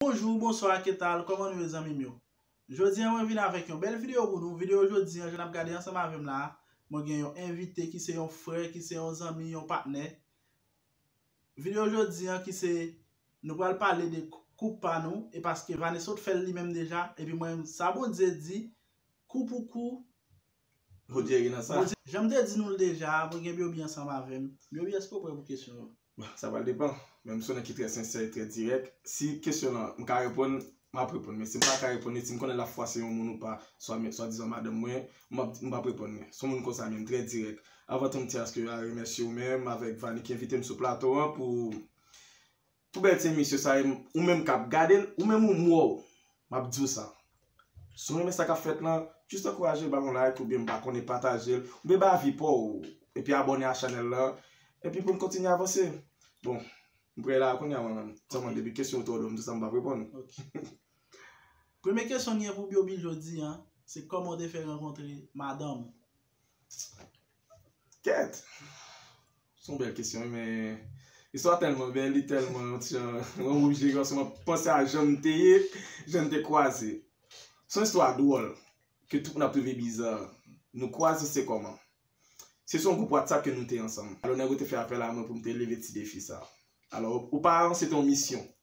Bonjou, bonswa, ketal, kòman nou ye zanmim yo? Jodi an mwen vin avèk yon bèl videyo pou nou, videyo jodi an jan nap gade ansanm avèm la a, mwen gen yon envite ki se yon frè, ki se yon zanmi, yon patnè. Videyo jodi an ki se nou pral pale de koup pa nou e paske Vanessa t fèl li menm deja epi mwen menm sa Bondye di kou pou kou Bondye ri nan sa. Janm te di nou l deja a, mwen gen Byobi ansanm avèm. Byobi èske ou prè pou kesyon yo? Bon, sa pral depan. Men m se yon nèg ki trè sensè e trè dirèk. Si kesyon lan m ka reponn, m ap reponn. Men si m pa ka reponn li, si m konnen l ap fwase yon moun ou pa, swa men, swadizan madanm mwen, m ap di, m p ap reponn li. Se yon moun kon sa menm, trè dirèk. Anvan tou m ti aske a remèsye ou menm avèk Vani ki envite m sou plato an pou pou bèl ti emisyon sa e ou menm k ap gade l, ou menm ou m wè w. Map diw sa. Si w renmen sa kap fèt lan, just ankouraje ba yon like oubyen m pa konnen patajel oubyen bay avi paw epi abòne a chanèl lan epi poun kontinye avanse. Bon, m prè la kounya mwen menm. Sèlman depi kesyon yo twò lou m di sa m pap reponn. Premye kesyon m gen pou Byobi jodi an, se kòman w te fè rankontre madanm ou? Kèt! Se yon bèl kesyon wi men istwa a tèlman bèl, li tèlman yon ti jan mwen m oblije kòmanse m ap panse a jan m te ye, jan n te kwaze. Se yon istwa dwòl ke tout moun ap twouve biza. Nou kwaze se kòman? Se sou yon gwoup whatsapp ke nou te ansanm. Alò nèg ou te fè apèl a mwen pou m te leve ti defi sa. Alò oparvan se te yon misyon.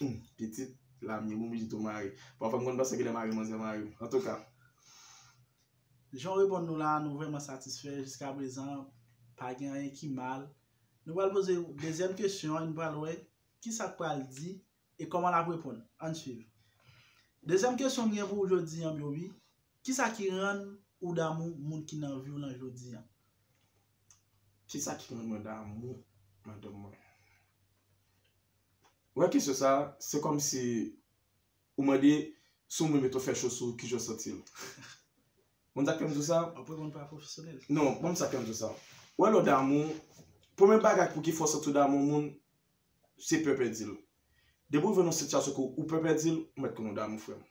Humm pitit la m ye bon pitit ou mare. Pafwa m konn panse kilè mare manzè mare m. Antouka. Jan w reponn nou la a nou vrèman satisfè jiska prezan pa gen anyen ki mal. Nou pral poze w dezyèm kesyon an nou pral wè kisa k pral di e kòman l ap reponn. Ann swiv. Dezyèm kesyon m gen pou w jodi an bby kisa ki rann ou damou moun ki nan vi w lan jodi an? Kisa ki rann mwen damou madanm mwen? Ou wè kesyon sa, se kòm si ou mande si yon moun mete yon fè chosou ki jan w santi w. Konn sa k fè m di w sa? Ou ap reponn pa pwofesyonèl. Non, ban m sa k fè m di w sa. Ou wè lè w damou, premye bagay pou ki fè w santi w damou yon moun, se pè pèdi l. Depi w rive nan yon sitiyasyon ke w pè pèdi l, ou mèt konnen w damou frè m.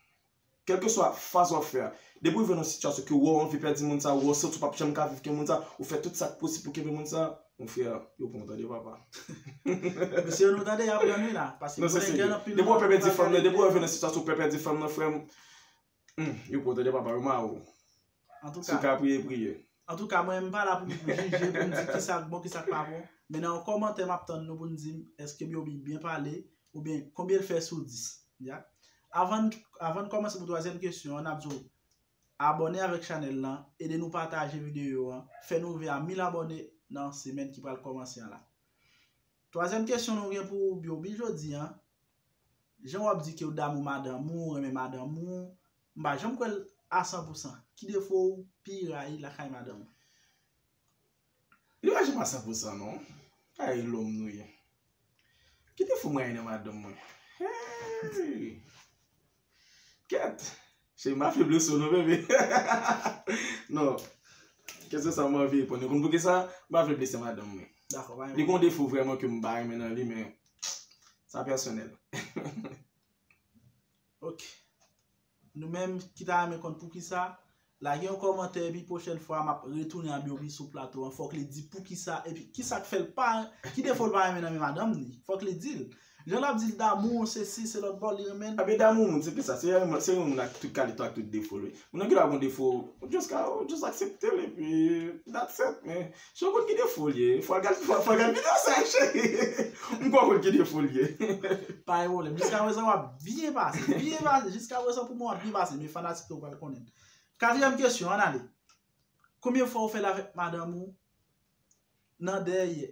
Kèlkeswa faz wap fè a, depi ou rive nan yon sitiyasyon ke wè w anvi pèdi moun sa, wè w santi w pap janm ka viv ke moun sa, ou fè tout sak posib pou kenbe moun sa, mon frè, yo pran w tande papa. Mesye nou tande yap prann wi la, paske m konnen gen anpil moun ki pral gade videyo a. Depi w pè pèdi fanm nan, depi w rive nan sitiyasyon pè pèdi fanm nan frè m, yo pran w tande papa, yo ma ou. Antouka. Souka priye priye. Antouka mwen m pa la pou m jije pou m di ki sa k bon ki sa k pa bon men nan yon kòmantè map tann nou pou n di m eske Byobi byen pale oubyen konbyen l fè sou 10 ya avan avan n kòmanse pou twazyèm kesyon an nap di w abòne avèk chanèl lan ede nou pataje videyo an fè nou rive a 1000 abòne nan semèn ki pral kòmanse an la twazyèm kesyon nou gen pou Byobi jodi an jan wap di ke w damou madanm ou w renmen madanm ou M pa janm kwèl a san pou san. Ki defo ou pi rayi lakay madanm ou? Li pa janm a san pou san non. Pa rayi lòm nou ye. Ki defo m rayi nan madanm mwen? Heyy! Kèt! Cheri m pa feble sou ou non bebe. Non. Kèlke sa ou m anvi reponn yo. Konn poukisa? M pa vle blese madanm mwen. Dakò, pa gen pwoblèm. Li gen yon defo vrèman ke m pa renmen nan li men sa pèsonèl. Ok Nou menm ki ta renmen konn poukisa Lage yon kòmantè epi pwochèn fwa map retounen a Byobi sou plato an fòk li di poukisa epi kisak fèl pa ki defo l pa renmen nan men madanm li fòk li dil jan lap dil damou w sesi selòt bon li renmen l Ebyen damou moun se pi sa se yon moun ak tout kalite ak tout defo l wi moun nan gen dwa gon defo ou just aksepte l epi that's it men Si w konn ki defo l ye, fwa gad videyo sa cheri. M kwè w konn ki defo l ye. Pa gen pwoblèm. Jiska prezan w ap byen pase. Byen pase. Jiska prezan pou mwen w ap byen pase. Men fanatik yo pral konnen. Katriyèm kesyon, ann ale. Konbyen fwa ou fè l avèk madanm ou nan dèyè?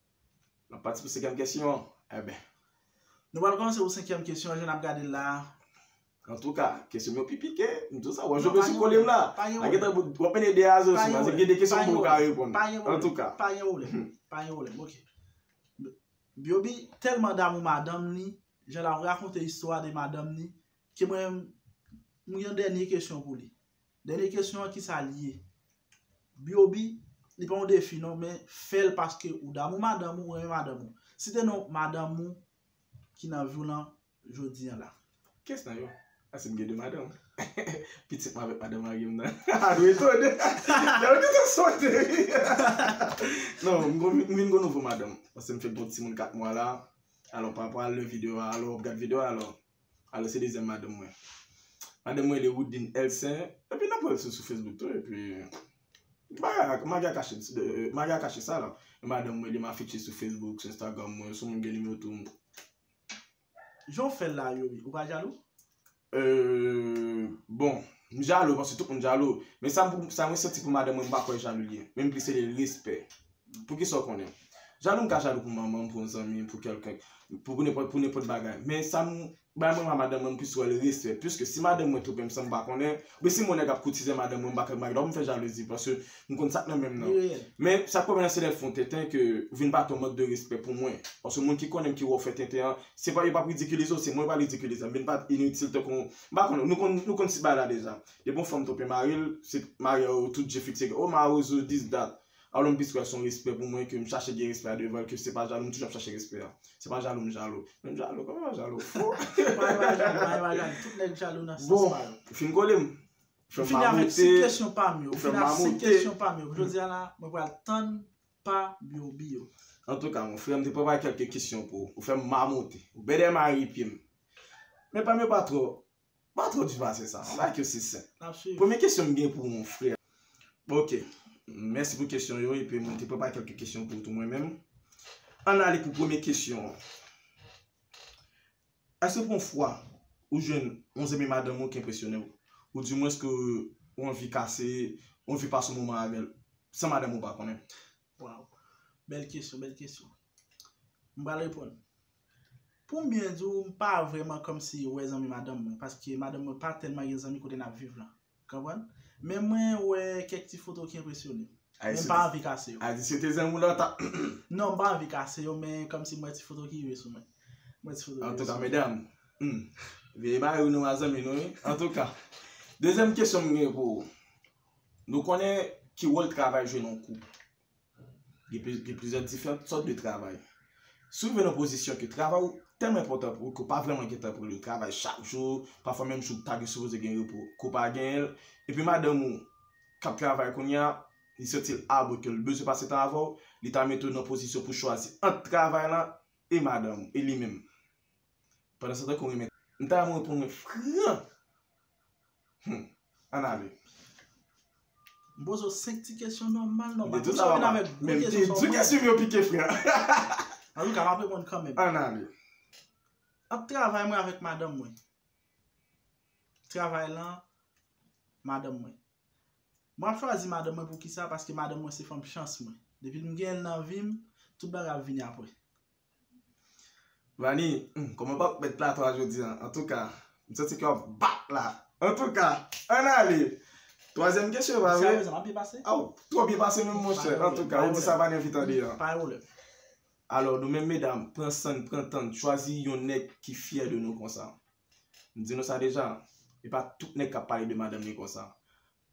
N ap pati pou senkyèm kesyon an. Enben. Nou pral kòmanse pou senkyèm kesyon an jan n ap gade l la a. Antouka, kesyon yo pi pike. M di w sa, w ap jwe sou kole m la. Pa gen pwoblèm. W ap mete 2 a 0 sou mwen. Se gen de kesyon mwen pa ka reponn. Pa gen pwoblèm. Pa gen pwoblèm. Pa gen pwoblèm. Ok. Byobi tèlman damou madanm li, jan l ap rakonte istwa de madanm li, ke mwen menm, m gen yon dènye kesyon pou li. Dènye kesyon an kisa li ye? Byobi, li pa yon defi non men fèl paske ou damou madanm ou, ou renmen madanm ou. Site non madanm ou ki nan vi w lan jodi an la. Kes nan yo? Asim gen 2 madanm. Pitit mwen avèk madanm mari m nan. Haha nou etone. Gade kijan sote ri. Non, m gon m vin gon nouvo madanm. Paske m fèk gen yon timoun 4 mwa la. Alò pa pa al nan video a alò, gad video a alò. Alò se dezyèm madanm mwen. Madanm mwen rele Woodline Elsen. Epi nan pwèl sou Facebook tou epi. Bagay la, mari a kache, mari a kache sa la. E madanm mwen li m afiche sou Facebook, sou Instagram mwen, si w gen nimewo tou m. Jan w fè l la Youri, ou pa jalou? Euh. Bon, m jalou paske tout moun jalou. Men sa mwen santi pou madanm mwen m pa kwè jalou li ye. Menm plis se de respè. Pou kisa ou konnen. Jalou m ka jalou pou manman m, pou yon zanmi m, pou kèlken, pou nenpòt pou nenpòt bagay. Men sa m bay mwen a madanm mwen m plis wè l respè. Piske si madanm mwen twonpe m san m pa konnen, oubyen si m wè yon nèg ap koutize madanm mwen m pa konnen, m pa gen dwa pou m fè jalouzi paske m konn sa k nan menm nan. Men sa k pwoblèm nan se lè l fè yon tenten ke ou vin bati yon mank de respè pou mwen. Paske moun ki konnen m ki wè ou fè tenten an, se pa yo pa p ridikilize w, se mwen yo pral ridikilize. M vin bati initil tankou yon, m pa konnen, nou konn nou konn ti bagay la deja. Depi yon fanm twonpe mari l, se mari a yo tout je fikse ke o mawozo dis dat. Alon plis wè son respè pou mwen ke m chache gen respè a devan l ke se pa jalou m toujou ap chache respè a. Se pa jalou m jalou. Men m jalou, kòman m pa jalou? Ohh! Pa yon bagay, pa yon bagay. Tout nèg jalou nan sans pa yo. Bon, ou fin kole m. Ou fè m mamote. M fini avèk 5 kesyon pa m yo. Ou fè m mamote. Ou fini avèk 5 kesyon pa m yo. Pou jodi a la, mwen pral tann pa Byorby yo. Antouka mon frè, m te prepare kèlke kesyon pou ou. Ou fè m mamote. Ou bèdè m a ri pye m. Men pa m yo pa twò Pa twò di pase sa. An like yo se senp. Nap swiv. Premye kesyon m gen pou ou frè. Ok. Mèsi pou kesyon yo epi mwen te prepare kèlke kesyon pou ou tou mwen menm. Ann ale pou premye kesyon an. Èske ou gon fwa ou jwenn yon zanmi madanm ou ki enpresyone ou? Ou di mwens ke ou anvi kase, ou anvi pase yon moman avèl san madanm ou pa konnen? Waw. Bèl kesyon, bèl kesyon. M pral reponn. Pou m byen di w, m pa vrèman kòmsi wè zanmi madanm mwen, paske madanm mwen pa tèlman gen zanmi kote n ap viv lan. Konprann? Men mwen wè kèk ti foto ki enpresyone m. Men m pa anvi kase yo. Ayiti se te zanmi w lontan. Non, m pa anvi kase yo, men kòmsi m wè ti foto ki rive sou mwen. Mwen ti foto ki rive sou mwen. Antouka medam, veye bagay yo nou a zanmi nou wi. Antouka, dezyèm kesyon m gen pou ou. Nou konnen ki wòl travay jwe nan yon koup. Gen plizyè diferant sòt de travay. Si w rive nan pozisyon ke travay ou tèlman enpòtan pou ou ke w pa vrèman gen tan pou li, w travay chak jou, pafwa menm jou ou ta sipoze gen repo, ke w pa genyen l, epi madanm ou k ap travay kounye a, li santi l abou e ke l bezwen pase tan avè w, li ta mete w nan pozisyon pou w chwazi ant travay la e madanm ou, e li menm. Pandansetan ke w renmen. M ta renmen w reponn mwen fran! Humm an ale. M poze w 5 ti kesyon nòmal nòmal. Mete tout sa pa pale. Men m te di kesyon yo pike frè. An tou ka m ap reponn kanmenm. An ale. Ant travay mwen avèk madanm mwen. Travay lan madanm mwen. Mwen ap chwazi madanm mwen poukisa paske madanm mwen se fanm chans mwen. Depi m gen l nan vi m, tout bagay ap vini apre. Rani humm koman pap met plato a jodi an antouka m santi kè wap bat la antouka ann ale twazyèm kesyon va vre Sa pa byen pase? Aw twò byen pase menm monchè antouka ou di sa pa n envite andedan an Pare ou lèt Alò nou menm medam pran san n pran tan n chwazi yon nèg ki fyè de nou konsa m di nou sa deja e pa tout nèg kap pale de madanm li konsa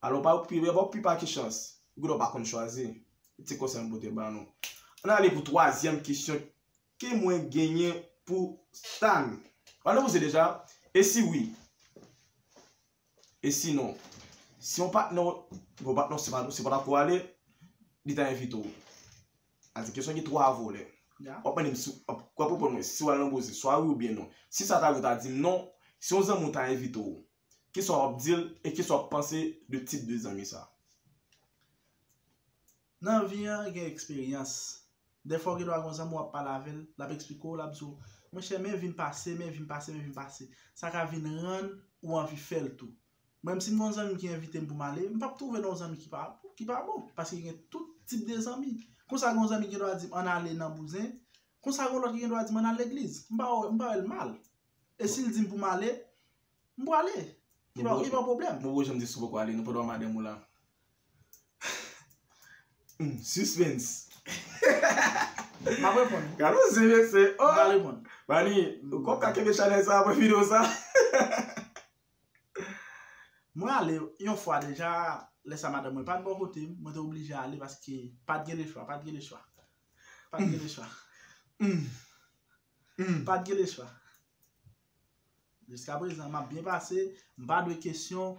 Alon pa okipe bèbò pu pa ki chans Goudon pa konn chwazi E ti konsèy m pote ba nou Ann ale pou twazyèm kesyon Ke mwen genyen pou Stan Ou ann poze deja E si wi E si non Si yon patnè w Bon patnè w se pa se pata ko w ale Li ta envite w A se kesyon ki twa volè Wap mande m si wap Wap reponn mwen si w al nan boze Swa wi oubyen non Si sa ta rive w ta di m non Si yon zanmi w ta envite w Kisa wap dil e kisa wap panse de tip de zanmi sa? Nan vi an gen eksperyans. Dèfwa gen do a gen yon zanmi wap pale avè l, lap eksplike w, lap di w, mwen chè men vim pase, men vim pase, men vim pase. Sa ka vin rann ou anvi fè l tou. Mwen menm si m gen yon zanmi ki envite m pou m ale, m pap twouve nan yon zanmi ki pa bon. Paske gen tout tip de zanmi. Konsa gen yon zanmi ki gen do a di m an ale nan bouzen, konsa gen yon lòt ki gen do a di m an al legliz. M pa wè l mal. E si l di m pou m ale, m prale. Li pa yon pwoblèm. Mwen wè m di si w poko ale, nou pa dwe wè madanm ou la. Sispens. M ap reponn. Gade yon zye mesye. M ap reponn. Bani, ou konp ka kenbe chanèl sa apre videyo sa? Mwen ale yon fwa deja, lè sa madanm mwen pa t bò kote m, mwen te oblije ale paske pa t gen lechwa, pa t gen lechwa. Pa t gen lechwa. M pat gen lespwa. Jiska prezan map byen pase, m pa dwe kesyon.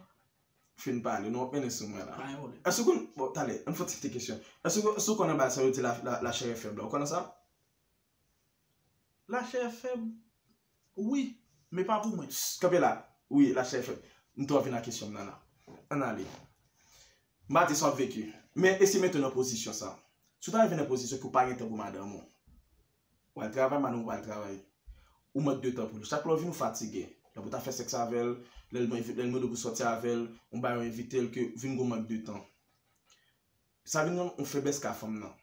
Fin pale non, mennen sou mwen la. Èske ou konn, bon tande, ann fè yon ti ti kesyon. Èske ou konn anba sa yo di la chè è fèb la, ou konnen sa? La chè è fèb? Wi, men pa pou mwen. Kanpe la, wi la chè è fèb. M tou anvi nan kesyon m nan la. Ann ale. M pa di sa w ap veki. Men eseye mete w nan pozisyon sa. Si w ta rive nan pozisyon ke w pa gen tan pou madanm ou. Wal travay manou wal travay ou mank de tan pou li chak lè ou vin ou fatige lè pou ta fè sèks avèl lèl mande pou sòti avèl yon bagay ou envitel ke vin gon mank de tan sa vin yon feblès ka fanm nan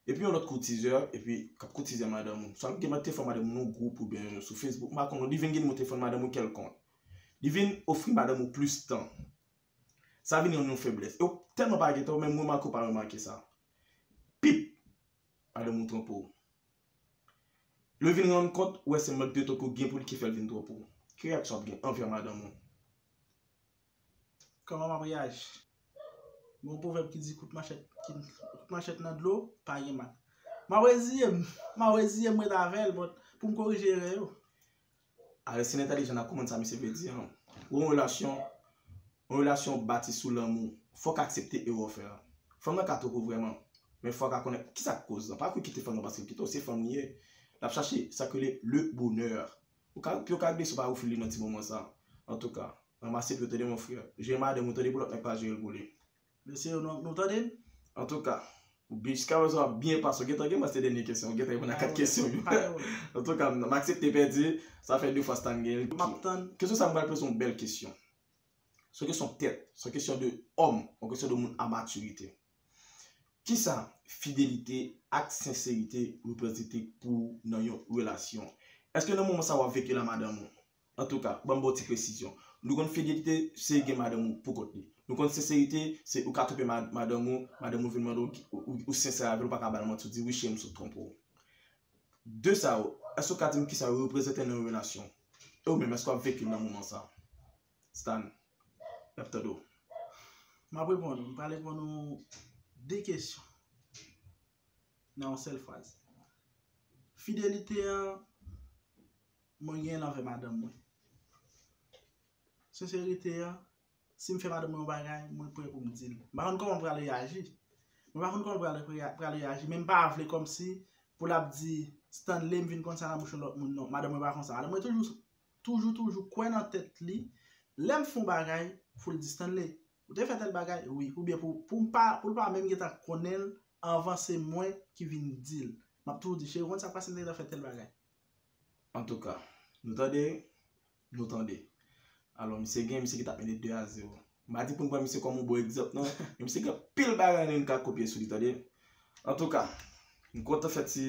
epi yon lòt koutizè epi kap koutizè madanm ou sa gen mank telefòn madanm ou nan gwoup oubyen sou facebook m pa konn non li vin gen nimero telefòn madanm ou kèlkonk li vin ofri madanm ou plis tan sa vin yon feblès ou tèlman pa gen tan ou menm remake ou pa remake sa pip. Madanm ou twonpe w. Lè w vin rann kont ou wè se mank de tan ke w gen pou li ki fè l vin twonpe w. Ki reyaksyon w ap gen anvè madanm ou? Kòman m ap reyaji? Gen yon pwovèb ki di kout manchèt nan dlo pa gen mal. M ap reziye m. M ap reziye m ret avè l pou m korije erè yo. Aristide entèlijan nan konprann sa misye vle di an. Pou yon relasyon, yon relasyon bati sou lanmou, fò w ka aksepte erè w fè an. Fanm nan ka twoko vrèman, men fò w ka konnen kisa k koz lan. Pa kou kite fanm nan paske l kite w, se fanm li ye. L ap chache sa ki rele le bonheur. Ou ka pi w ka blese w pa refil li nan ti moman sa. Antouka, ranmase pi w tande mon frère. Jere madanm ou tande pou lòt nèg pa jere l pou li. Mesye yo nou tande n. Antouka, jiska prezan wap byen pase. Ou gentan gen mwens 2 dènye kesyon. Ou gentan reponn a 4 kesyon yo. Antouka, m aksepte pèdi. Sa fè 2 fwa Stan gen l. Map tann. Kesyon sa m pral poze w bèl kesyon. Se yon kesyon tèt. Se yon kesyon de òm. Yon kesyon de moun a matirite. Kisa fidelite ak senserite reprezante pou w nan yon relasyon? Eske nan moman sa wap vekil a madanm ou? Antouka, banm baw ti presizyon. Nou konn fidelite se gen madanm ou pou kont li. Nou konn senserite se ou ka twonpe madanm ou, madanm ou vin mande w ou sensè avèl ou pa ka bal manti ou di wi cheri m sot twonpe w. 2 sa yo, èske ou ka di m kisa yo reprezante nan yon relasyon? E ou menm èske wap vekil nan moman sa? Stan, nap tande w. Map reponn ou, m pral reponn ou 2 kesyon nan yon sèl fraz. Fidelite an. mwen genyen anvè madanm mwen. Senserite a, si m fè madanm mwen yon bagay, mwen pre pou m di l. M pa konn kòman m pral reyaji. Mwen pa konn kòman l pral reyaji, men m pa vle kòmsi pou l ap di Stanley m vin konn sa nan bouch yon lòt moun non. Madanm mwen pa konsa. Madanm mwen toujou, toujou, toujou kwè nan tèt li, lè m fè yon bagay, pou l di Stanley, ou te fè tèl bagay? Wi. Oubyen pou m pa, pou l pa menm gentan konnen l anvan se mwen ki vin di l. M ap toujou di, cheri ou konn sa k pase m te gentan fè tèl bagay. Antouka Nou tande Nou tande Alò misye gen misye ki tap mennen 2 a 0 M pa di pou n pran misye kòm yon bon egzanp non Men misye gen anpil bagay nou ka kopye sou li tande Antouka M kontan fè ti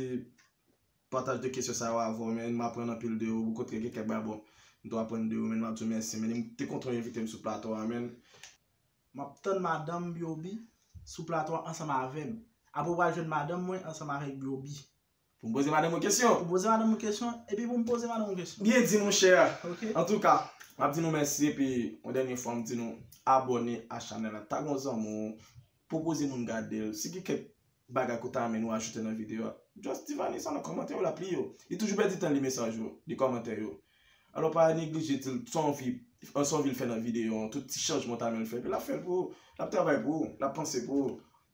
pataj de kesyon sa yo avè w men M aprann anpil de ou Bikont gen kèk bagay bon m tou aprann de ou men M ap di w mèsi men M te kontan w envite m sou plato a men M ap tann madanm Byobi sou plato a ansanm avè m Apre w pral jwenn madanm mwen ansanm avèk Byobi. Pou m poze madanm ou kesyon. Pou m poze madanm ou kesyon, epi pou m poze madanm ou kesyon. Byen di mon chè. Ok. Antouka, m ap di nou mèsi epi yon dènye fwa m di nou abòne a chanèl la. Tag yon zanmi w, pwopoze moun gade l. Si gen kèk bagay ke w ta renmen nou ajoute nan videyo a, just di Vanny sa nan kòmantè yo, l ap li yo. Li toujou pèdi tan l li mesaj yo, li kòmantè yo. Alò pa neglije di l sa w anvi, sa w anvi l fè nan videyo an, tout ti chanjman w ta renmen l fè. Epi l ap fè l pou ou. L ap travay pou ou, l ap panse pou ou.